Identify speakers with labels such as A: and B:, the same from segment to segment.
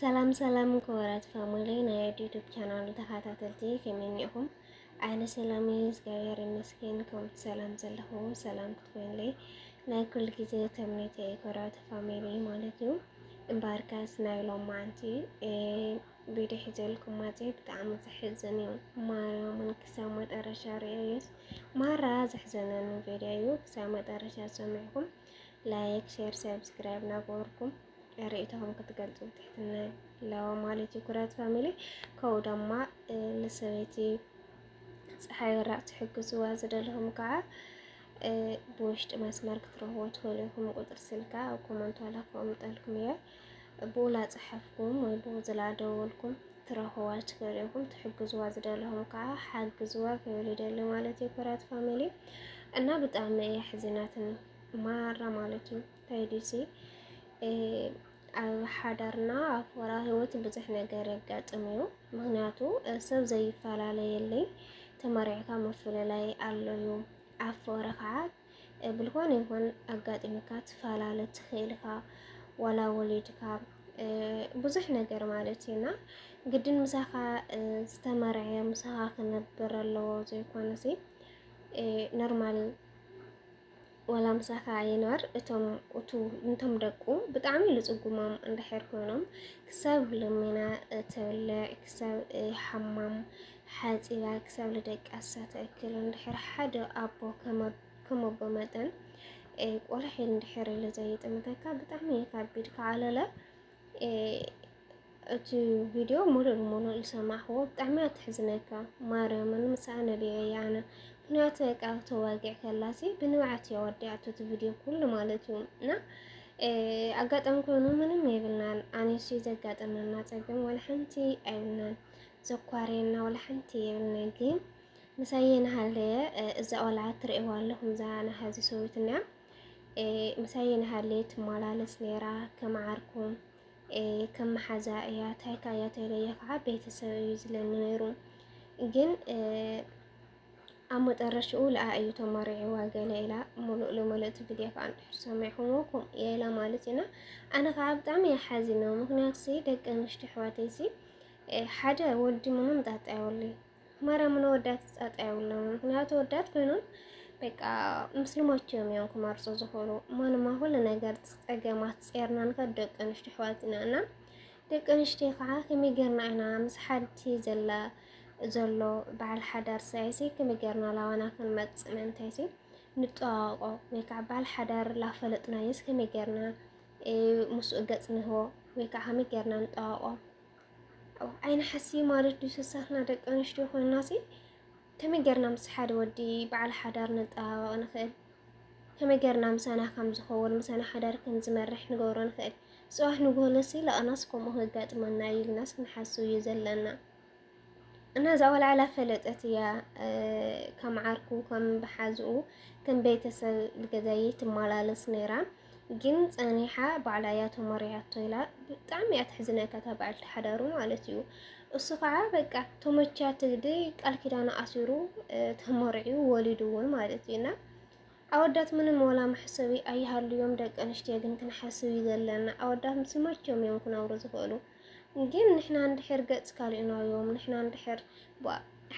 A: ሰላም ሰላም ክቡራት ፋሚሊ ናይ ዩቱብ ቻናል ተኸታተልቲ ከመይ እኒኹም? ኣለ ሰላም እዩ እግዚኣብሔር ይመስገን። ከምቲ ሰላም ዘለኹ ሰላም ክትኮንለይ ናይ ኩሉ ግዜ ተምኔተ ክቡራት ፋሚሊ ማለት እዩ። እምበኣርከስ ናይ ሎም መዓንቲ ቪድዮ ሒዘልኩም ማፀ ብጣዕሚ ዘሕዝን እዩ። ማርያምን ክሳብ መጠረሻ ርእዩስ ማራ ዘሕዘነኒ ቪድዮ እዩ። ክሳብ መጠረሻ ሰሚዕኩም ላይክ፣ ሼር፣ ሰብስክራይብ ናገበርኩም ርእይቶኹም ክትገልጹ ብትሕትና ኣለዎ ማለት እዩ። ኩራት ፋሚሊ ከምኡ ድማ ንሰበይቲ ፀሓይ ወራቕ ትሕግዝዋ ዝደለኹም ከዓ ብውሽጢ መስመር ክትረኽቦ ትኽእሉ ኢኹም። ቁፅሪ ስልካ ኣብ ኮመንት ዋላ ክቕምጠልኩም እየ ብኡ ላፀሓፍኩም ወይ ብኡ ዝላደወልኩም ትረኽዋ ትኽእሉ ኢኹም። ትሕግዝዋ ዝደለኹም ከዓ ሓግዝዋ ክብል ይደሊ ማለት እዩ። ኩራት ፋሚሊ እና ብጣዕሚ እየ ሕዚናትን ማራ ማለት እዩ። ዲዚ ኣብ ሓዳርና ኣብ ወራ ህይወት ብዙሕ ነገር የጋጥም እዩ። ምክንያቱ ሰብ ዘይፈላለየለይ ተመሪዕካ ምፍልላይ ኣሎ እዩ። ኣብ ወረ ከዓ ብልኮነ ይኹን ኣጋጢምካ ትፈላለ ትኽእል ኢኻ ዋላ ወሊድካ ብዙሕ ነገር ማለት እዩና ግድን ምሳኻ ዝተመርዐ ምሳኻ ክነብር ኣለዎ ዘይኮነሲ ኖርማል ዋላ ምሳኻ ይንበር እቶም እቱ እንቶም ደቁ ብጣዕሚ ልጽጉሞም እንድሕር ኮይኖም ክሳብ ልሚና ተብልዕ ክሳብ ሓማም ሓጺባ ክሳብ ልደቃሳ ተእክል እንድሕር ሓደ ኣቦ ከመቦ መጠን ቆልሒ እንድሕር ልዘይጥምተካ ብጣዕሚ ካብ ቢድካ ዓለለ እቲ ቪድዮ ሙሉእ ብሙሉእ ዝሰማዕክዎ ብጣዕሚያ ተሕዝነካ ማርያምን ምሳኣ ነቢዐ እየ ኣነ ምክንያቱ በቃ ተዋጊዕ ከላሲ ብንብዓት እያ ወዲኣቶ እቲ ቪድዮ ኩሉ ማለት እዩ እና ኣጋጣሚ ኮይኑ ምንም የብልናን ኣነሲ ዘጋጠመና ፀገም ወላ ሓንቲ ኣይብልናን ዘኳርየና ወላ ሓንቲ የብልና ግን ምሳየ ናሃለየ እዛ ቆልዓ ትርእዋ ኣለኹም እዛ ናሃዚ ሰዊት እኒኣ ምሳየ ናሃለየ ትመላለስ ነይራ ከም ዓርኩም ከም መሓዛ እያ ታይካ እያ ተይለየ ከዓ ቤተሰብ እዩ ዝለኒ ነይሩ ግን ኣብ መጠረሽኡ ልኣ እዩ ተመሪዕዋ ገለ ኢላ ሙሉእ ልሙሉእ እቲ ቪድዮ ከዓ እንድሕር ሰሚዕኹሞ ከምኡ እየ ኢላ ማለት ኢና ኣነ ከዓ ብጣዕሚ እየ ሓዚነ ምክንያቱ ሲ ደቂ ኣንስትዮ ኣሕዋተይ ሲ ሓደ ወዲ ምንም ጣጣ የብሉይ ማርያም ነው ወዳት ጻጣ ያውለው ምክንያቱ ወዳት ኮይኑን በቃ ምስልሞች የሚሆን ኩማርጾ ዝኾኑ ማንም አሁን ነገር ጸገማት ጼርናን ከደቅ ንሽቲ ሕዋትና እና ደቂ ኣንስትዮ ከዓ ከመይገርና ኢና ምስ ሓንቲ ዘላ ዘሎ በዓል ሓዳር ሳይሲ ከመይገርና ላዋና ክንመፅእ ምእንታይሲ ንጠዋቆ ወይ ከዓ በዓል ሓዳር ላፈለጥናየስ ከመይገርና ምስኡ ገፅ ንህቦ ወይ ከዓ ከመይገርና ንጠዋቆ ኣይንሓሲ ማለት ዱ ሰሳትና ደቂ ኣንስትዮ ኮይናሲ ከመይ ጌርና ምስ ሓደ ወዲ በዓል ሓዳር ንጠባበቕ ንኽእል? ከመይ ጌርና ምሳና ከም ዝኸውን ምሳና ሓዳር ከም ዝመርሕ ንገብሮ ንኽእል? ጽባሕ ንጎለሲ ለቕናስ ከምኡ ከጋጥመና እዩ ኢልናስ ክንሓስብ እዩ ዘለና እና እዛ ወልዓላ ፈለጠት እያ ከም ዓርኩ ከም ብሓዝኡ ከም ቤተሰብ ልገዛየ ትመላለስ ነይራ ግን ጸኒሓ ባዕላ እያ ተመሪዓቶ ኢላ ብጣዕሚ እያ ተሕዝነካ እታ በዓልቲ ሓዳሩ ማለት እዩ። እሱ ከዓ በቃ ተመችያ ትግዲ ቃል ኪዳኑ ኣሲሩ ተመርዕዩ ወሊዱ እውን ማለት እዩ እና ኣወዳት ምንም ወላ መሕሰቢ ኣይሃልዮም፣ ደቂ ኣንስትዮ ግን ክንሓስብ እዩ ዘለና። ኣወዳት ምስ መቸም እዮም ክነብሩ ዝኽእሉ። ግን ንሕና እንድሕር ገጽ ካሊእናዮም ንሕና እንድሕር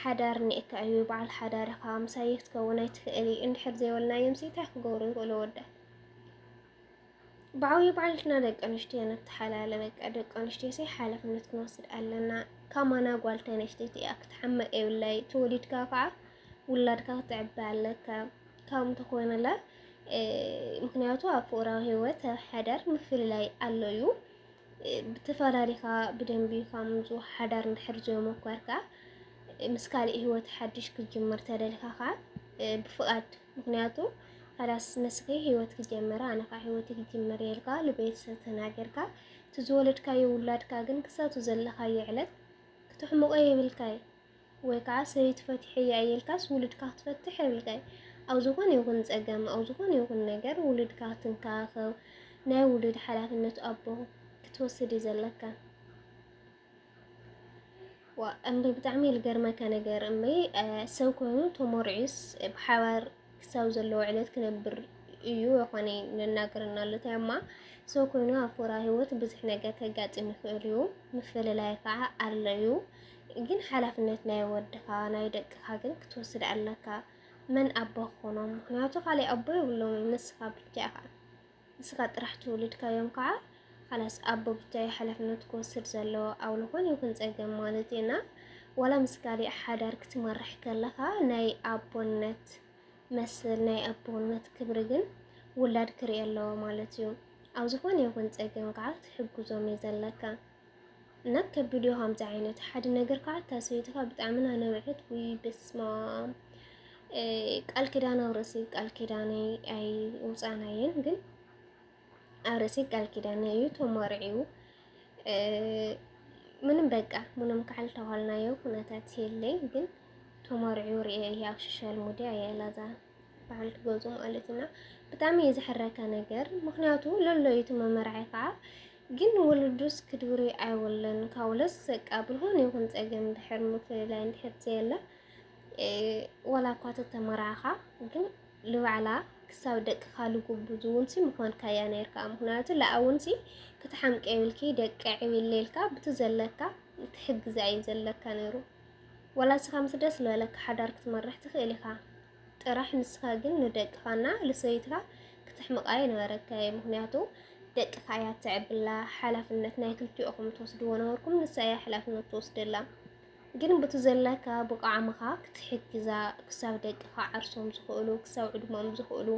A: ሓዳር እኒኤካ እዩ በዓል ሓዳር ኢኻ ምሳይ ክትከውን ኣይትኽእል እዩ እንድሕር ዘይበልናዮም ሲ እንታይ ክገብሩ ይኽእሉ ኣወዳት ብዓብዩ ባዕልትና ደቂ ኣንስትዮ ንተሓላለ በቃ ደቂ ኣንስትዮ ሲ ሓላፍነት ክንወስድ ኣለና ካማና ጓል ተነስተይቲ እያ ክትሓመቅ የብላይ ተወሊድካ ከዓ ውላድካ ክትዕበ ኣለካ ካብም ተኮይንላ ምክንያቱ ኣብ ፍቅራዊ ሂወት ኣብ ሓዳር ምፍልላይ ኣሎ እዩ ብተፈላለኻ ብደንቢ ካብ ምንጩ ሓዳር እንድሕር ዘይሞከርካ ምስ ካልእ ህይወት ሓድሽ ክትጅምር ተደልካ ከዓ ብፍቓድ ምክንያቱ ሓዳስ ንስኺ ህይወት ክትጀምራ ኣነ ከዓ ህይወት ክትጅምር የልካ ንቤተሰብ ተናገርካ እቲ ዝወለድካዮ ውላድካ ግን ክሳቱ ዘለኻዮ ዕለት ክትሕምቆ የብልካይ ወይ ከዓ ሰበይቲ ፈቲሐያ እየ ኢልካስ ውሉድካ ክትፈትሕ የብልካይ ኣብ ዝኾነ ይኹን ፀገም ኣብ ዝኾነ ይኹን ነገር ውሉድካ ክትንከባኸብ ናይ ውሉድ ሓላፍነት ኣቦ ክትወስድ እዩ ዘለካ። ዋ እምበይ ብጣዕሚ እዩ ልገርመካ ነገር እምበይ ሰብ ኮይኑ ተሞርዒስ ብሓባር ክሳብ ዘለዎ ዕለት ክነብር እዩ የኾነ ንናገረና ኣሎ እንታይ እማ ሰው ኮይኑ ኣብ ፎራ ህይወት ብዙሕ ነገር ከጋጥም ይኽእል እዩ። ምፍልላይ ከዓ ኣሎ እዩ። ግን ሓላፍነት ናይ ወድኻ ናይ ደቅኻ ግን ክትወስድ ኣለካ መን ኣቦ ክኾኖም ምክንያቱ ካሊእ ኣቦ የብሎም ንስኻ ብቻ ኢኻ ንስኻ ጥራሕ ትውልድካዮም ከዓ ካላስ ኣቦ ብቻ እዩ ሓላፍነት ክወስድ ዘለዎ ኣብ ዝኾነ ይኹን ፀገም ማለት እዩ እና ዋላ ምስ ካሊእ ሓዳር ክትመርሕ ከለኻ ናይ ኣቦነት መስል ናይ ኣቦነት ክብሪ ግን ውላድ ክርኢ ኣለዎ ማለት እዩ ኣብ ዝኾነ ይኹን ፀገም ከዓ ትሕግዞም እዩ ዘለካ ናብ ከብድዮ ከምዚ ዓይነት ሓደ ነገር ከዓ እታ ሰበይትካ ብጣዕሚ ናነበዐት ውይ በስማም ቃል ኪዳን ኣብ ርእሲ ቃል ኪዳነይ ኣይውፃናየን ግን ኣብ ርእሲ ቃል ኪዳነ እዩ ተመርዒው ምንም በቃ ምንም ካዕል ተኋልናዮ ኩነታት የለይ ግን ተመርዒው ርኤ እየ ኣብ ሶሻል ሚዲያ የላዛ በዓል ክገዙ ማለት እና ብጣዕሚ እዩ ዝሕረካ ነገር ምክንያቱ ለሎ እዩ እቲ መመርዒ ከዓ ግን ወለዱስ ክድብሪ ኣይወለን ካውለስ ሰቃ ብልሆን ይኹን ጸገም ድሕር ምፍልላይ እንድሕር ዘየለ ወላ እኳ ተተመራዕኻ ግን ልባዕላ ክሳብ ደቅኻ ልጉብዙ ውንሲ ምኾንካያ ነርካ ምክንያቱ ለኣ ውንሲ ክትሓምቀ ይብልኪ ደቂ ዕብለ ኢልካ ብቲ ዘለካ ትሕግዛ እዩ ዘለካ ነይሩ ወላ ስኻ ምስ ደስ ዝበለካ ሓዳር ክትመርሕ ትኽእል ኢኻ ጥራሕ ንስካ ግን ንደቅካ እና ልሰበይትካ ክተሕምቃ ኣይነበረካይ ምክንያቱ ደቅካ እያ ትዕብላ ሓላፍነት ናይ ክልቲኦኩም ትወስድዎ ነበርኩም ንሳ እያ ሓላፍነት ትወስደላ ግን ቡቲ ዘለካ ብቃዕምካ ክትሕግዛ ክሳብ ደቅካ ዓርሶም ዝክእሉ ክሳብ ዕድሞም ዝክእሉ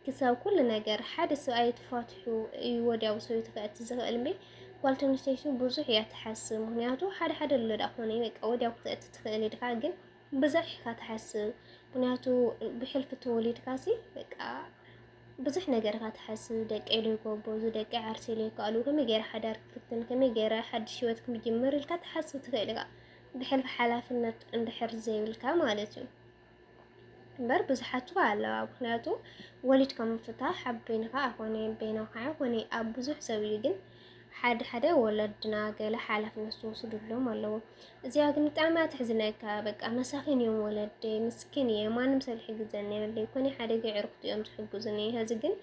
A: ክሳብ ኩሉ ነገር ሓደ ሰብኣይ ትፋትሑ እዩ ወዲያው ሰበይቱ ከእቲ ዝኽእል እምበይ ጓል ተንስተይቲ ብዙሕ እያ ትሓስብ። ምክንያቱ ሓደ ሓደ ኣሎ ዳኣ ኮነ በቃ ወዲያው ክተእቲ ትኽእል ኢድካ ግን ብዙሕ ኢካ ትሓስብ ምክንያቱ ብሕልፊ ተወሊድካሲ በቃ ብዙሕ ነገር ኢካ ትሓስብ ደቀይ ዶ ይጎበዙ ደቀይ ዓርሰይ ዶ ይከኣሉ ከመይ ገይረ ሓዳር ክፍትን ከመይ ገይረ ሓድሽ ሂወት ክምጅምር ኢልካ ትሓስብ ትኽእል ኢካ ብሕልፊ ሓላፍነት እንድሕር ዘይብልካ ማለት እዩ እምበር ብዙሓት እኳ ኣለዋ ምክንያቱ ወሊድካ ምፍታሕ ኣብ በይንካ ኣይኮነ በይናካ ኣይኮነ ኣብ ብዙሕ ሰብ እዩ ግን ሓደ ሓደ ወለድና ገለ ሓላፍነት ዝወስድሎም ኣለዉ። እዚኣ ግን ብጣዕሚ እያ ተሕዝነካ። በቃ መሳኪን እዮም ወለደይ፣ ምስኪን እየ፣ ማንም ሰብ ዝሕግዘኒ የብለይ፣ ኮነ ሓደገ ዕርክቱ እዮም ዝሕግዙኒ፣ ሀዚ ግን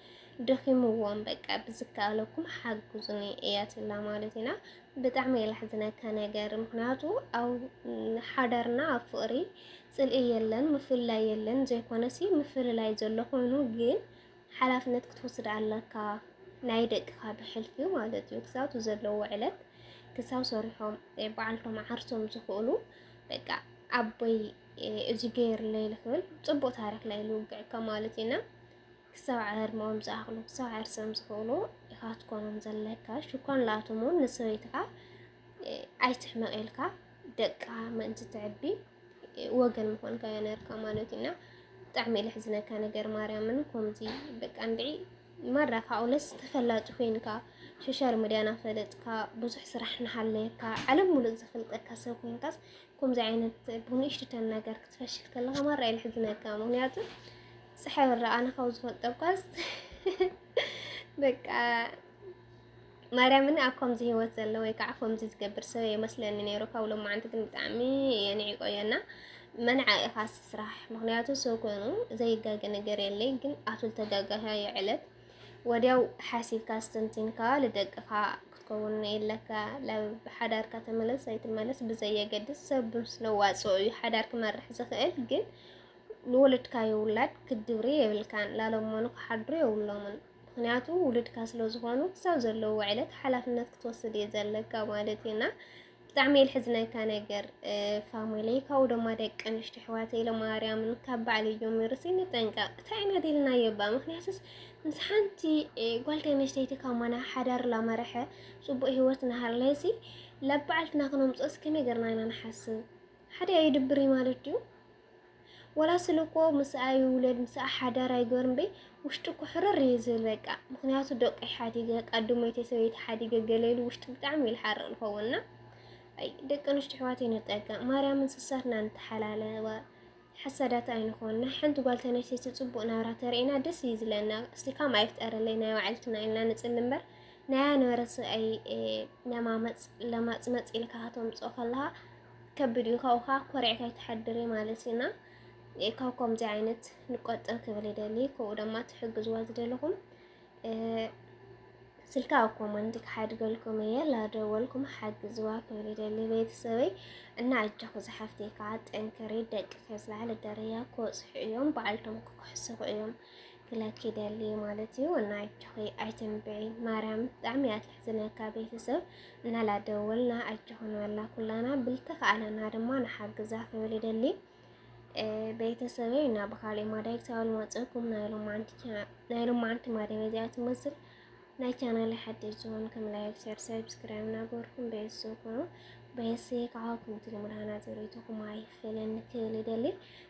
A: ደኺምዎም፣ በቃ ብዝከኣለኩም ሓግዙኒ እያ ትብላ ማለት ኢና። ብጣዕሚ እየ ላሕዝነካ ነገር፣ ምክንያቱ ኣብ ሓዳርና ኣብ ፍቅሪ ፅልኢ የለን፣ ምፍላይ የለን፣ ዘይኮነሲ ምፍልላይ ዘሎ ኮይኑ ግን ሓላፍነት ክትወስድ ኣለካ ናይ ደቅኻ ብሕልፊ ማለት እዩ ክሳብ ዘለዎ ዕለት ክሳብ ሰሪሖም በዓልቶም ዓርሶም ዝኽእሉ በቃ ኣቦይ እዚ ገይርለይ ልኽብል ፅቡቅ ታሪክ ናይ ልውግዕካ ማለት ኢና ክሳብ ዕድመኦም ዝኣኽሉ ክሳብ ዓርሶም ዝኽእሉ ኢኻ ትኮኖም ዘለካ ሽኳን ላኣቶም እውን ንሰበይትኻ ኣይትሕመቅ ኢልካ ደቅኻ ምእንቲ ትዕቢ ወገን ምኾንካ ያ ነርካ ማለት እዩ እና ብጣዕሚ እዩ ለሕዝነካ ነገር ማርያምን ከምዚ በቃ እንድዒ ማራ ካብኡለስ ተፈላጢ ኮይንካ ሶሻል ሚድያ ናፈለጥካ ብዙሕ ስራሕ ናሃለየካ ዓለም ሙሉእ ዘፈልጠካ ሰብ ኮይንካስ ከምዚ ዓይነት ብንእሽትተን ነገር ክትፈሽል ከለኻ ማራ እዩ ለሕዝነካ ምክንያቱ ፀሓይ ወረ ኣነ ካብ ዝፈልጠኳስ በቃ ማርያምን ኣብ ከምዚ ሂወት ዘሎ ወይ ከዓ ከምዚ ዝገብር ሰብ ኣይመስለኒ ነይሩ ካብ ሎማዓንቲ ግን ብጣዕሚ እየ ንዒቀዮ እና መንዓ ኢኻ ስራሕ ምክንያቱ ሰብ ኮይኑ ዘይጋገ ነገር የለይ ግን ኣቱ ዝተጋጋያ የዕለት ወዲያው ሓሲብካ ኣስተንቲንካ ልደቅኻ ክትከውን የለካ ላብ ሓዳርካ ተመለስ ኣይትመለስ ብዘየገድስ ሰብ ምስ ነዋፅኦ እዩ ሓዳር ክመርሕ ዝኽእል ግን ንወለድካዮ ውላድ ክትድብሪ የብልካን ላለሞኑ ክሓድሩ የብሎምን ምክንያቱ ውሉድካ ስለ ዝኾኑ ክሳብ ዘለዎ ዕለት ሓላፍነት ክትወስድ እየ ዘለካ ማለት እዩና ብጣዕሚ እየ ልሕዝነካ ነገር ፋሚሊ ካብኡ ድማ ደቂ ኣንሽቲ ኣሕዋተይ ለማርያምን ካብ ባዕለይ ጀሚሩ ንጠንቀቕ እንታይ ኢና ደልናዮ እባ ምክንያቱስ ምስ ሓንቲ ጓል ተነስተይቲ ካብ ማና ሓዳር ላመርሐ ፅቡቅ ሂወት ናሃለሲ ለበዓልትና ክነምፅኦስ ከመይ ገርና ኢና ንሓስብ ሓደ ኣይድብሪ ማለት ድዩ ወላ ስለ እኮ ምስኣ ይውለድ ምስኣ ሓዳር ኣይገበር እምበይ ውሽጡ እኮ ሕርር እዩ ዝብል በቃ ምክንያቱ ደቀይ ሓዲገ ቃዱመይተይ ሰበይቲ ሓዲገ ገለ ኢሉ ውሽጡ ብጣዕሚ እዩ ዝሓርቅ ዝኸውንና ኣይ ደቂ ኣንስትዮ ኣሕዋተይ ንጠንቀቅ ማርያምን ስሳትና ንተሓላለወ ሓሳዳት ኣይንኾን ናይ ሓንቲ ጓል ተነስተይቲ ፅቡቅ ናብራ ተርእና ደስ እዩ ዝለና እስቲ ካም ኣይፍጠረለይ ናይ ባዕልትና ኢልና ንፅሊ እምበር ናያ ነበረ ሰብኣይ ለማመፅ ለማፅመፅ ኢልካ ከተምፅኦ ከለካ ከብድ እዩ ካብኡካ ኮሪዕካ ኣይትሓድሪ ማለት እዩ እና ካብ ከምዚ ዓይነት ንቆጠብ ክብል ይደሊ ከምኡ ድማ ትሕግዝዋ ዝደለኹም ስልካ ኣብ ኮመንት ክሓድገልኩም እየ ላደወልኩም ሓግዝዋ ክብል ይደሊ ቤተሰበይ እና ኣጆኹ ዝሓፍቲ ከዓ ጠንክሪ ደቂ ከዝለዓለ ደረያ ክወፅሑ እዮም በዓልቶም ክክሕስኹ እዮም ክለኪ ደሊ ማለት እዩ እና ኣጆኺ ኣይትንብዒ ማርያም ብጣዕሚ እያ ትሕዝነካ ቤተሰብ እና ላደወልና ኣጆኽን በላ ኩላና ብልተኸኣለና ድማ ንሓግዛ ክብል ይደሊ ቤተሰበይ እና ብካልእ ማዳይ ክሳብ ልመፀኩም ናይ ሎማዓንቲ ማዳይ በዚኣ ትመስል ናይ ቻናል ሓድሽ ዝኾን ከም ላይክ ሸር ሰብስክራይብ ናገርኩም ቤተሰብ ኮኑ ቤተሰብ ካኻኩም ትልምዳና ዘሪቱኩም ኣይፈለን ክብል ይደሊ